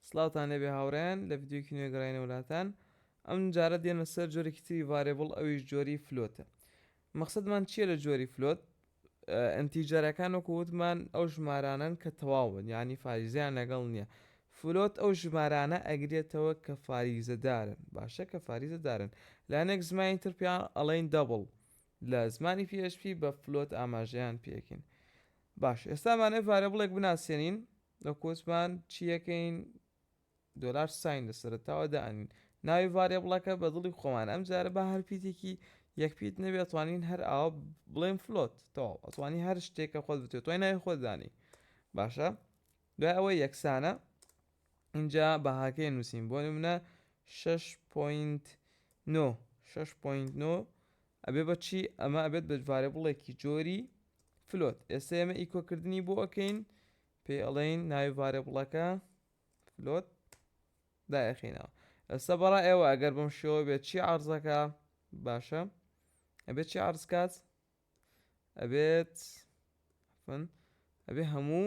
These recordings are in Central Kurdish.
سڵاوتان لێبێ هاوڕێیان لە ڤیدیۆیەکی نوێ گەڕاینەوە لاتان ئەم جارە دێمە سەر جۆرێکی تری ڤارێبڵ ئەویش جۆری فلۆتە مەخسەدمان چییە لە جۆری فلۆت ئەنتیجەرەکان وەکو وتمان ئەو ژمارانەن کە تەواون یعنی فاریزیان لەگەڵ نییە فلۆت ئەو ژمارانە ئەگرێتەوە کە فاریزەدارن باشە کە فاریزەدارن لانێک زمانی تر پێیان ئەڵین دەبڵ لە زمانی PHP بە فلۆت ئاماژەیان پێکین باش ئێستامانێ ڤارێبڵێک بناسێنین دەکوتمان چیەکەین دۆلار ساین لە سەرەتاوە دانین ناوی ڤاریبڵەکە بە دڵی خۆمان ئەم جارە با هەر پیتێکی یەک پیت نەبێ توانین هەر ئاوە بڵێن فلۆت تەواو ئەتوانی هەر شتێکە خۆت بتێت توای ناوی خۆت دانی باشە دوای ئەوە یەکسانە اینجا بەهاکەی نووسین بۆ منە 6.9 6.9 ئەبێ بە چی؟ ئەمە ئەبێت بە ڤارێبڵێکی جۆری فلۆت. ئێستا ئێمە ئیکۆ کردنی بۆ ئەکەین، پێی ئەڵێین ناوی ڤارێبڵەکە فلۆت دایەخینەوە. ئێستا بەڕای ئێوە ئەگەر بەم شێوە بێت چی عەرزەکە؟ باشە ئەبێت چی عەرز کات؟ ئەبێت ئەبێ هەموو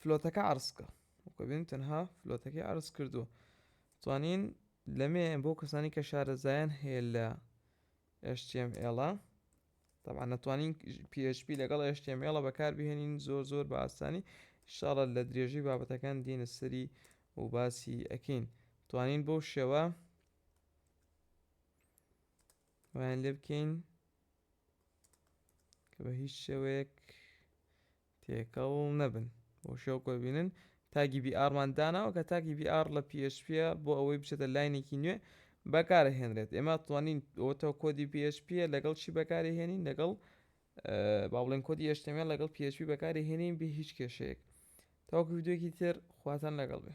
فلۆتەکە عرسکە وکەبین تەنها فلۆتەکەی عرس کردووە توانین لەمێ بۆ کەسانی کە شارەزایان هەیە لە HTML طبعا نتوانین PHP لەگەڵ HTML بەکار بهێنین زۆر زۆر بە ئاسانی شاڵە لە درێژی بابەتەکان دینە سەری و باسی ئەکەین توانین بەو شێوە وایان لێ بکەین کە بە هیچ شێوەیەک تێکەڵ نەبن بۆ شێوە کۆی بینن تاگی بی ئارمان داناوە کە تاکی بی ئار لە PHP بۆ ئەوەی بچێتە لاینێکی نوێ بەکارە هێنرێت ئێمە توانین ئەوەتەوە کۆدی PHP لەگەڵ چی بەکاری هێنین لەگەڵ با بڵێن کۆدی ئێشتەمیان لەگەڵ PHP بەکاری هێنین بێ هیچ کێشەیەک تاوەکو ویددیوێکی تر خواتان لەگەڵ بێ